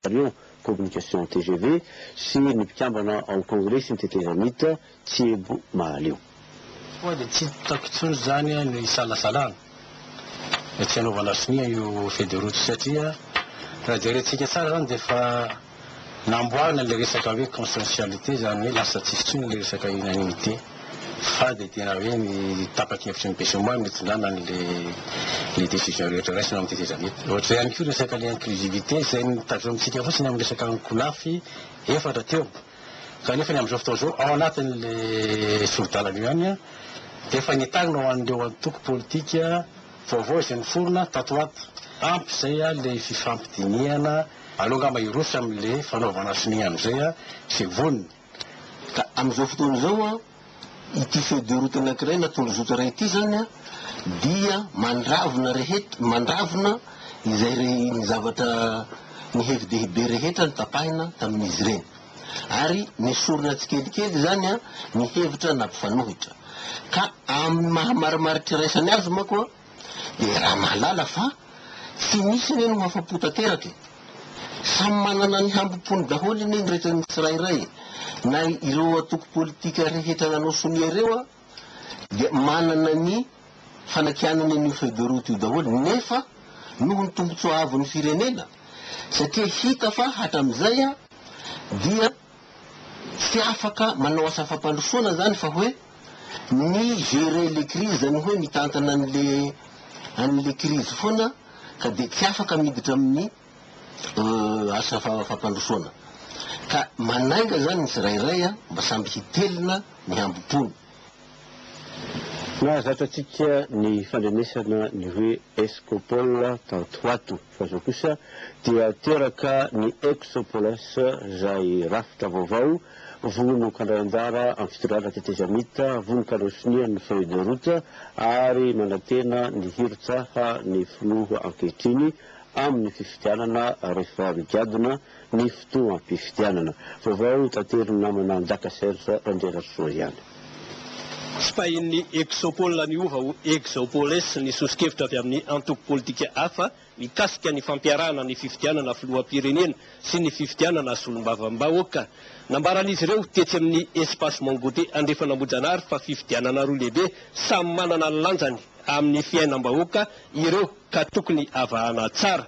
Marion, Communication tgv, sy ny mpikambana ao Kongresy ny tetezamita tsy ebo mahaleo. Koa dia tsy hitako intsony izany no isalasalana dia tsy hanaovana sonia io feuille de route io satria raha jerentsika tsara izany dia efa namboarina ilay resaka hoe consensualité izany hoe lasa tsy hisy intsony ilay resaka unanimité. Fa dia tena hoe ny tapa-kevitry ny Besoma no hitondràna an'ilay décision rehetra raisina ao amin'ity seza be ity. Ohatr'izay ihany koa resaka ny inclusivité izay notazomitsika fotsiny amin'ny resaka ankolafy efatra teo. Kanefa ny amin'izao fotoana izao ao anatin'ilay sori-dalana io ihany dia efa nentaninao ho an'ireo antoko politika vaovao izay niforona tato ho ato. Ampy izay ilay fifampidinihana. Aleo angamba hiroso amin'ilay fanaovana sonia amin'izay izay vonona. Ka amin'izao fotoana izao, ity feuille de route anankiray na tondrozotra iray ity izany dia mandravona rehetra, mandravona izay re, ny zavatra, ny hevi-dehibe rehetra notapahina tamin'izy ireny. Ary nesorina tsikelikely izany ny hevitra nampifanohitra. Ka amin'ny maha marimaritra iraisany azy manko, Dia raha mahalala fa tsy misy anie no afa-po tanteraka e! Samy manana ny hambom-pony daholo anie ny rehetra ny tsirairay e! Na ireo antoko politika rehetra nanao sonia ireo an, dia manana ny fanakianany an'io feuille de route io daholo nefa noho ny tombotsoa avon'ny firenena satria hita fa hatramin'izay an dia tsy afaka manao asa fampandrosoana izany fa hoe mi gerer les crises izany hoe mitantana an'le an'le crise foana ka dia tsy afaka miditra amin'ny asa fampandrosoana ka manainga izany ny tsirairay a mba samby hitelina ny hambom-pony. Nahazatra antsika ny fandrenesana ny hoe Escopol tato ho ato. Fa izao kosa dia teraka ny Exopolis, izay rafitra vaovao, vono kandray anjara amin'ny fitondrana tetezamita, vono kandray sonia ny feuille de route ary manantena ny hirotsaha ny filoha ankehitriny amin'ny fifidianana rehefa migadona ny fotoam-pifidianana. Vaovao hotaterin'ny namana Njaka Serge Randriarasoa ihany. Sipahin'ny Exopol miova ho Exopoles ny soso-kevitra avy amin'ny antoko politika hafa mikasika ny fampiarahana ny fifidianana filoham-pirenena sy ny fifidianana solombavambahoaka. Nambaran'izy ireo tetsy amin'ny Espace Mangote Andrefan'Ambojanahary fa fifidianana roa lehibe samy manana ny lanjany amin'ny fiainam-bahoaka ireo ka tokony avahana tsara.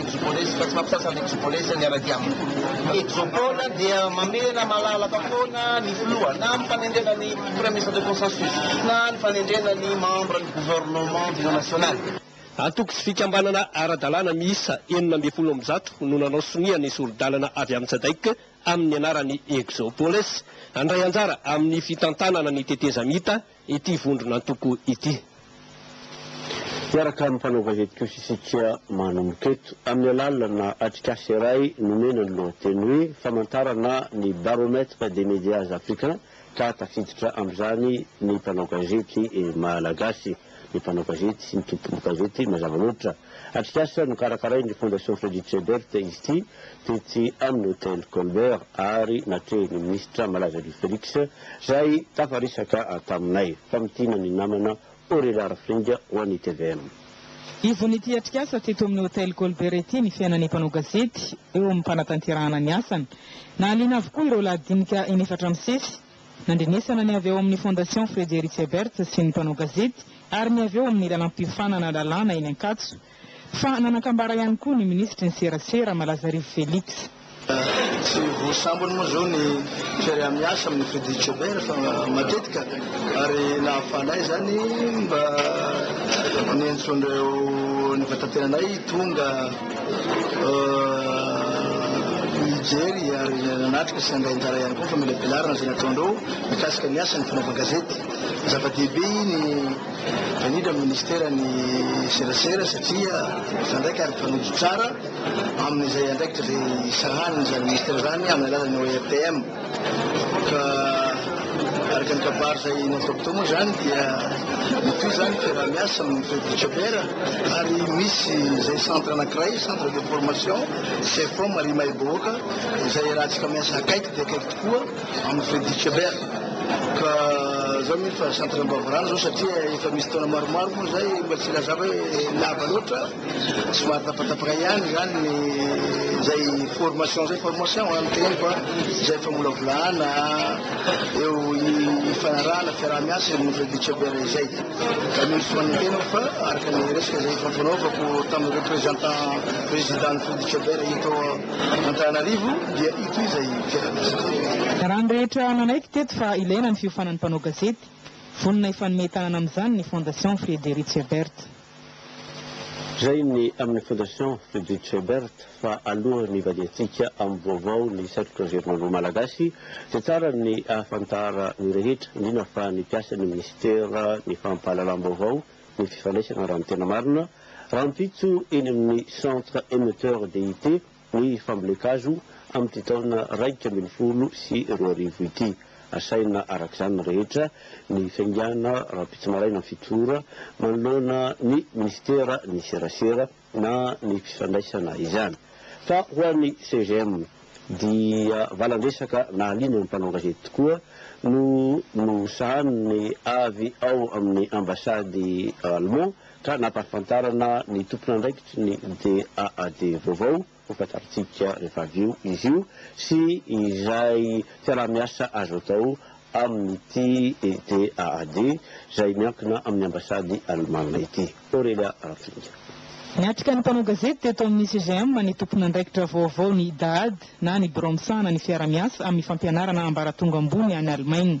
Ekibolesy fa tsy mampisasa ny ekibolesy miaradia aminy. Exopole dia mamela malalaka foana ny filoha na amin'ny fanendrena ny Premier Ministre de Consensus na ny fanendrena ny Membre ny Gouvernement d'Union Nationale. Antoko sy fikambanana ara-dalàna miisa enina ambin'ny folo amby zato no nanao sonia ny sori-dalana avy amin'ny Sadec amin'ny anaran'ny Exopolesy handray anjara amin'ny fitantanana ny tetezamita, ity vondron'antoko ity. Miaraka amin'ny mpanao gazety kosa isika manomboka eto, amin'ny alalana atrikasa iray nomena ny lohateny hoe Famantarana ny Baromètre des Medias Africains ka tafiditra amin'izany ny mpanao gazety malagasy, ny mpanao gazety sy ny tompon-gazety mazava loatra. Atrikasa nokarakarain'ny Fondation Frederick Ebert izy ity. tetsy amin'ny Hotel Colbert ary natrehin'ny minisitra malaza Louis Felix izay tafaresaka taminay, famintinina ny namana Orelhary Fring ho an'ny tvm. Ivon'ity atrikasa teto amin'ny Hotel Colbert ity ny fiainan'ny mpanao gazety eo amin'ny fanatanterahana ny asany. Nahaliana avokoa ireo lahadinika inefatra misesy, nandrenesana ny avy ao amin'ny Fondation Frederick Ebert sy ny mpanao gazety ary ny avy eo amin'ny lalam-piofanana lalàna eny Ankatso, Fa nanan-kambara ihany koa ny minisitry ny serasera, Malazarivo Felix. Tsy ho sambany moa izao ny fiaraha-miasa amin'ny Fedicobert fa matetika ary nahafahanay izany mba niantsoan'ireo nifankatenanay tonga hijery ary nanatrika sy nandray anjara ihany koa famelabelarana izay nataondreo mikasika ny asan'ny fanaovan-gazety. Zava-dehibe iny. Indrindra ny Ministera ny serasera satria izaho indray kara mpanojo tsara amin'izay andraikitra izay sahanin'izany Ministera izany amin'ny alalan'ny ORTM. Ka araka ny kabary izay nataoko teo moa izany dia mitohy izany fiaraha-miasa amin'ny Fevicober ary misy izay centre anankiray, centre de formation, Cefom ary Imaibohoka izay iarahantsika miasa akaiky dia akaiky tokoa. Amin'ny Freddy Kléber. Ka zao mino fa centre Ambavarano zao satria efa misy taona maromaro moa zay mba tsy lazava hoe lava loatra, somary tapatapaka ihany izany ny zay formation zay, formation an, ny teneniko an, zay famolavolana eo ifanarahana fiaraha-miasa eo amin'ny Freddy Kléber izay. Ka mino sy manantena aho fa araka ny resaka izay efa nifanaovako tamin'ny représentant président-n'ny Freddy Kléber eto Antananarivo dia ity izay fiaraha-miasa. Raha ny rehetra nanaiky teto fa ilaina ny fiofanan'ny mpanao gazety, vonona hifanome tanana amin'izany ny Fondation Friedrich Ebert. Reny amin'ny Fondation Friedrich Ebert fa alohan'ny hivadihantsika amin'ny vaovao ny sehatry ny Anjerimanoa Malagasy dia tsara ny ahafantara ny rehetra, indrindra fa ny mpiasan'ny Minisitera ny fampahalalam-baovao ny fifandraisana raha ny tena marina, rahampitso eny amin'ny Centre Emetteur DIT ny fambolen-kazo amin'ity taona iraika ambin'ny folo sy roa arivo ity. Asaina araka izany ny rehetra ny faingàna rahampitso maraina fito ora manoloana ny Minisitera ny serasera, na ny fifandraisana izany. Fa ho an'ny CGM dia valan-dresaka nahaliana ny mpanao gazety tokoa no nosahanin'ny avy ao amin'ny ambasady Allemand ka nampahafantarana ny tompon'andraikitry ny DAAD vaovao, Hofantarintsika rehefa avy eo izy io sy izay fiaraha-miasa azo atao amin'ity ETAAD izay miankina amin'ny ambasady alemana ity. Aurelia Rafinga. Niatrika ny mpanao gazety teto amin'ny CGM ny tompon'andraikitra vaovaon'ny ETAAD na ny birao misahana ny fiaraha-miasa amin'ny fampianarana ambaratonga ambony any Alemaina.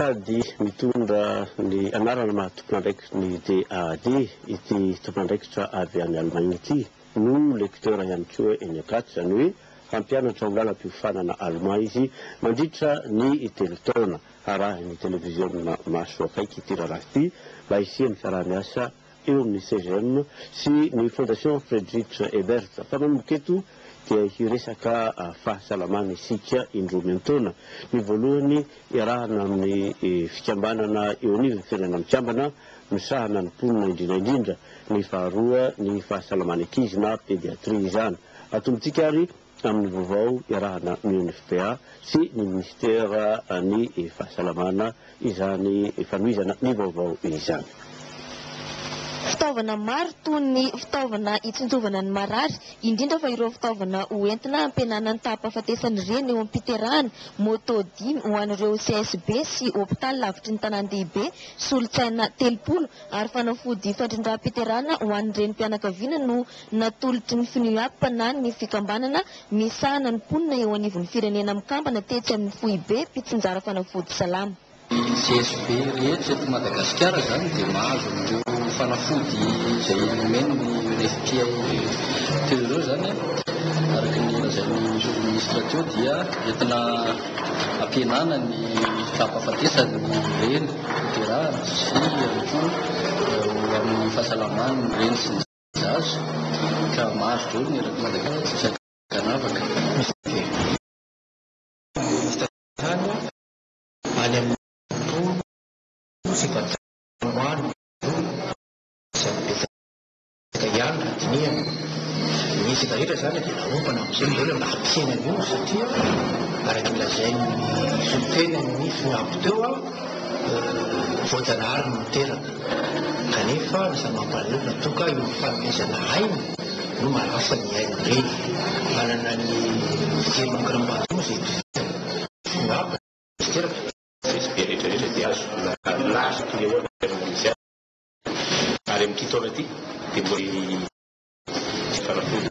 Sady mitondra ny anarana maha tompon'andraikitry ny DAAD ity tompon'andraikitra avy any Allemagne ity, no lecteur ihany koa eny Acat, izany hoe hampianatra ho lalam-piofanana alemà izy mandritra ny telo taona. Harahin'ny televiziona maso akaiky ity raharaha ity mba hisian'ny fiaraha-miasa. eo amin'ny CGM sy ny Fondation Friedrich Ebert fa manomboka eto dia hiresaka fahasalamana isika indroa miantaona, ny voalohany iarahana amin'ny fikambanana eo anivon'ny Firenena Mikambana misahana ny mponina indrindra indrindra, ny faharoa ny fahasalaman'ny ankizy na pédiatrie izany. Atombotsika ary amin'ny vaovao iarahana amin'ny UNFPA sy ny Minisitera ny Fahasalamana izany fanohizana ny vaovao izany. Fitaovana maro toy ny fitaovana hitsinjovana ny marary, indrindra fa ireo fitaovana ho entina hampihenana ny taham-pahafatesan'ny reny eo am-piterahana, moto dimy ho an'ireo CSB sy hopitaly lavitry ny tanàn-dehibe, solontsaina telopolo ary fanafody fandrindram-piterahana ho an'ny renim-pianakaviana no natoloky ny Fnuap na ny Fikambanana misahana ny mponina eo anivon'ny firenena mikambana tetsy amin'ny Foibem-pitsinjara Fanafody Salama. Ny GSB rehetra eto Madagasikara izany dia mahazo an'ireo fanafody izay nomen'ny Refpia teo ireo izany. Araka ny lazain'ny Minisitra teo dia entina hampihenana ny fahafahafatesan'ny reny hoterahana sy ihany koa ho amin'ny fahasalaman'ny reny sy ny. Azo, ka maro be ny erak'i Madagasikara ankanavaka mifandeha. Minisitra Tany any amin'ny Tontolo sy Patrimoine Vola Andriamatoa Betsaka ihany raha dinihana. Misy efa ela izany dia naombana amin'izao ny vola mba hampisehoana an'io satria araka ny lazain'ny solontenan'ny FINAB teo, voajanahary ny miteraka. Kanefa aza mampalahelo toa ka io fanomezana aina no manasa ny aina ireny. Manana ny fijerinao kiram-bato izay tohizany. Angamba tsy teraka. Izy be rehetrarehetra dia azo laza toy ny ahoana ny fiainanao mihitsy aza. Ary amin'ity taona ity dia mbola hijery ny fanafoana.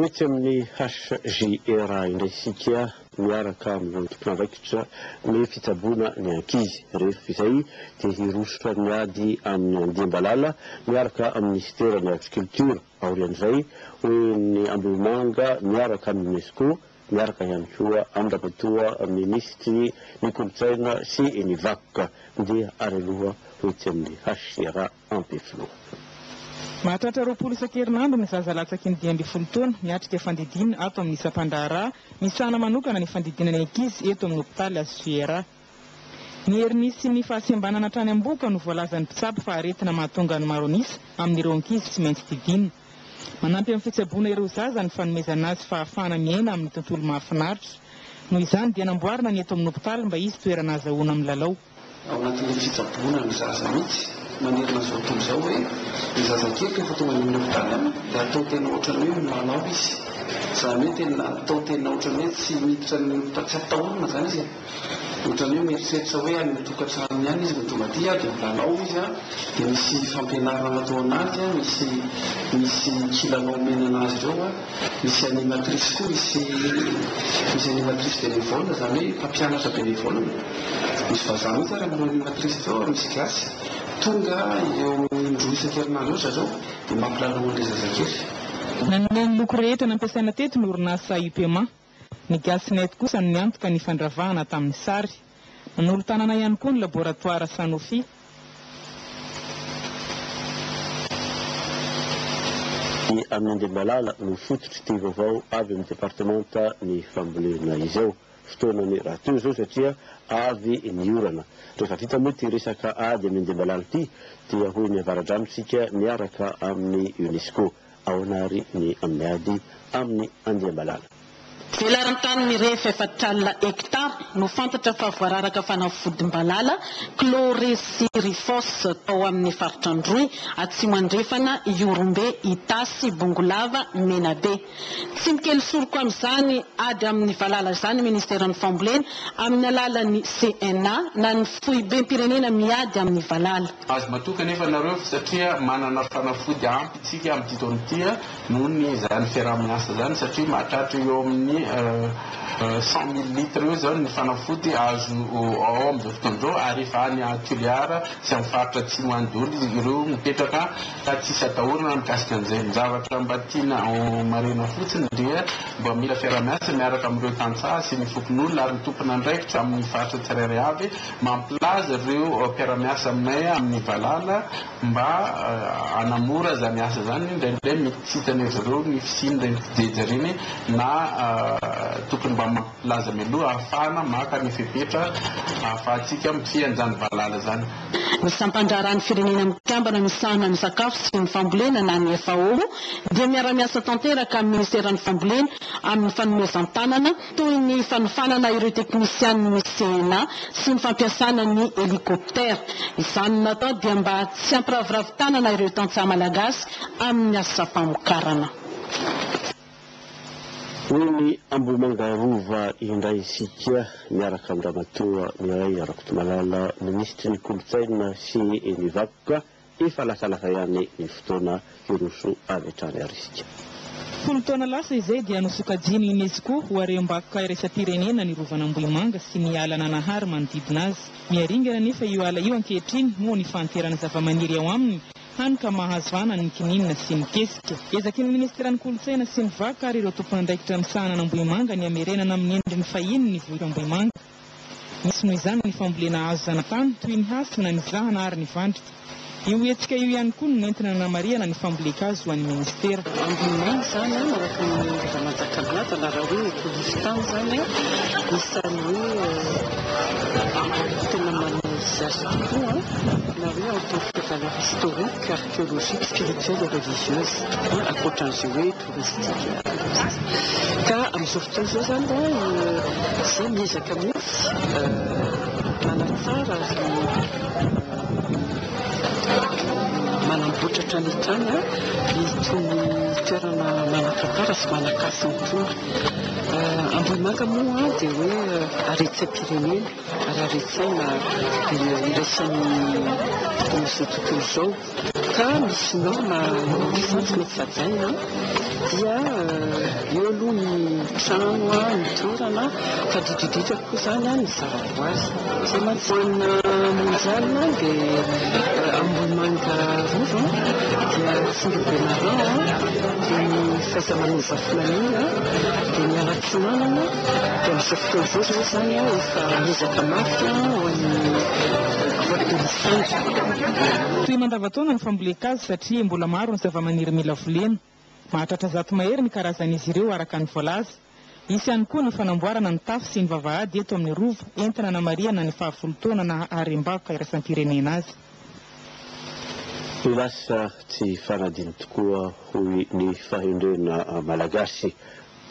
Mety amin'ny HJR indray isika miaraka amin'ireo tompon'andraikitra ny fitsaboana ny ankizy. Rehefa izay dia hirosotra miady amin'ny andiam-balala miaraka amin'ny Minisiteran'ny Agriculture. Aorian'izay, ho en'ny Ambohimanga miaraka amin'ny Unesco, miaraka ihany koa Andramatoa Minisitry ny Kolontsaina sy ny Vakoka dia ary aloha ho etsy amin'ny HJR. Ampefiloha. Mahatratra roapolo isan-kerinandro ny zaza latsaky ny dimy ambin'ny folo taona miatrika fandidiana ato amin'ny sampan-draharaha misahana manokana ny fandidiana ny ankizy eto amin'ny hopitaly HCRA. Ny heriny sy ny fahasembanana hatrany am-bohoka no voalazan'ny mpitsabo fa aretina mahatonga ny maro an'isa amin'ireo ankizy tsy maintsy didiana. Manampy amin'ny fitsaboana ireo zaza ny fanomezana azy fahafahana miaina amin'ny tontolo mahafinaritra. Noho izany dia namboarina ny eto amin'ny hopitaly mba hisy toerana azahoana milalao. Ao anatin'io fitsaboana ny zaza mihitsy manerana izao tontolo izao hoe ny zazakely rehefa tonga any amin'ny hopitaly any dia atao tena ohatran'ny hoe milalao izy. Izany hoe tena atao tena ohatran'ny hoe tsy miditra ny hopitaly, tsy atahorana izany izy e. Ohatran'ny hoe mieritreritra hoe any an-tokantranony any izy no tonga aty dia milalao izy an, dia misy fampianarana ataon'azy an, misy misy kilalao omena an'azy ireo an. Misy animatrice koa misy misy animatrice bénévole zany hoe mpampianatra bénévole. Misy vazaha mihitsy ary amin'ireo animatrice ireo ary misy gasy. Tonga eo amin'ny indroa isan-kerinandro eo zareo dia mampilalao an'ilay zazakely. Nanome ny loko rehetra nampiasaina teto ny orinasa Upema. Ny Gasnet kosa no niantoka ny fandravahana tamin'ny sary. Nanolo-tanana ihany koa ny laboratoara Sanofi. Ny an'i Andriambalala no fototry'ity vaovao avy amin'ny departemanta ny fambolena izao. Fotoanany rahateo izao satria avy ny orana. Rehefa vita moa ity resaka ady amin'i Andriambalala ity dia hoy ny Avaradrano isika miaraka amin'ny UNESCO. Ahoana ary ny miady amin'ny andiam-balala? Velaran-tany mirefy efatr'alina hektara no fantatra fa voararaka fanafodim-balala, chlorhysirifos, tao amin'ny faritra Androy, atsimo andrefana, Ihorombe, Itasy, Bongolava, Menabe. Tsy mikely soroko amin'izany ady amin'ny valala izany ny Ministeran'ny Fambolena, amin'ny alalan'ny CNA na ny Foibem-pirenena miady amin'ny valala. Azo matoky anefa ianareo satria manana fanafody ampy isika amin'ity taona ity noho ny izany fiaraha-miasa izany satria mahatratra eo amin'ny cent mille litres eo izao ny fanafody azo ao amin'izao fotoana izao ary efa any Toliara sy amin'ny faritra atsimo any daholo ireo mipetraka ka tsisy atahorana mikasika an'izay. Ny zavatra mba tiana homarihina fotsiny dia mba mila fiaraha-miasa miaraka amin'ireo tantsaha sy ny fokonolona ary ny tompon'andraikitra amin'ny faritra tsirairay avy Mampilaza ireo mpiara-miasa aminay amin'ny valala mba hanamora izany asa izany. Indraindray mety tsy hitan'izy ireo ny fisian'ireny fijeja ireny na tokony mba mampilaza mialoha ahafahana maka ny fepetra ahafahantsika mifehy an'izany valala izany. Ny Sampan-draharahan'ny Firenena Mikambana misahana ny Sakafo sy ny Fambolena na ny FAO dia miara-miasa tanteraka amin'ny Minisiteran'ny Fambolena amin'ny fanomezan-tanana toy ny fanofanana ireo teknisianin'ny CNA sy ny fampiasana ny helikoptera. Izany no natao dia mba tsy hampiraviravy tanana ireo tantsaha malagasy amin'ny asam-pamokarana. Hoy ny Ambohimangarova indray isika miaraka amin'i Ramatoa Mireille Rakotomalala, minisitry ny Kolontsaina sy ny Vakoka. Efa lasa lasa ihany ny fotoana hiroso avy hatrany ary isika. Folo taona lasa izay dia nosokajian'ny UNESCO ho harem-bakoka iraisam-pirenena ny Rovan'Ambohimanga sy ny ala Nanahary manodidina azy. Miharingana anefa io ala io ankehitriny noho ny fahanteran'ny zavamaniry ao aminy, hany ka mahazo hanany ny kininina sy ny kesika. Ezaky ny Minisiteran'ny Kolontsaina sy ny Vakoka ary ireo tompon'andraikitra misahana an'Ambohimanga ny hamerenana amin'ny endriny fahiny ny vohitr'Ambohimanga. Misy noho izany ny fambolena hazo zanatany toy ny hasina, ny zahana ary ny vandrika. Io hetsika io ihany koa no nentina nanamarihana ny fambolen-kazo ho an'ny Ministera. Ambinina izany araka ny Ramajakalaja na raha hoe polisy tany izany isany hoe tena manao izy azy tokoa na hoe en tant que valeur historique, archéologique, spirituelle et religieuse. Ankoatran'izay hoe. Ka amin'izao fotoana izao izany raha izaho miezaka mihitsy manatsara ary manamboatra hatrany hatrany itony toerana manan-tantara sy manan-kasina itony. Ambohimanga moa dia hoe haretsem-pirenena ary haren-tsaina iraisany amin'izao tontolo izao. Ka ny sinoa maha sampy mety sajaina dia eo aloha ny trano, ny toerana fa dididika koa izany ny zavaboary. Izay majanona mondial dia Ambohimanga Rova dia Tsindribemarin dia ny Fahaiza-manao Zafy maniry dia ny Fiomanana, dia amin'izao fotoana izao izany izany an, efa ezaka mafy an, ho an'ny Grotte de Lissandy. Toy mandavantaona ny fambolen-kazo satria mbola maro ny zavamaniry mila volena. Mahatratra zato mahery ny karazan'izy ireo araka ny voalaza. Hisy ihany koa ny fanamboarana ny tafo sy ny vavahady eto amin'ny Rova entina hanamarihana ny fahafolo taona naha harem-bakoka iraisam-pirenena azy. Lasa tsy fanadino tokoa hoy ny fahendrena malagasy.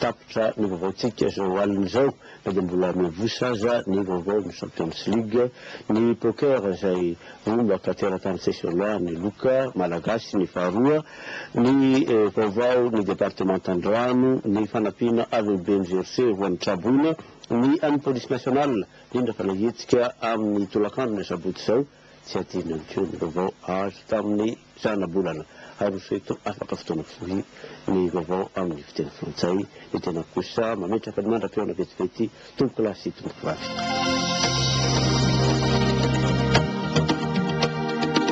Tapitra ny vaovaontsika izao alina izao na dia mbola miavosa aza ny vaovao ny Champions League, ny poker izay rombaka teratany tsy aiso aloha, ny loka malagasy, ny faharoa, ny vaovao ny departemantan-drano, ny fanampiana avy amin'ny BNGRC ho an'ny traboina, ny an'ny Police Nationale indrindra fa nahihetsika amin'ny tolakandron'ny asabotsy izao. Tsy adino intsony ny vaovao azo tamin'ny zanabolana aroso eto afaka fotoana fohy ny vaovao amin'ny fiteny frantsay ny tenako kosa mametraka ny mandra-pihaona vetivety tompoko lahy sy tompoko vavy.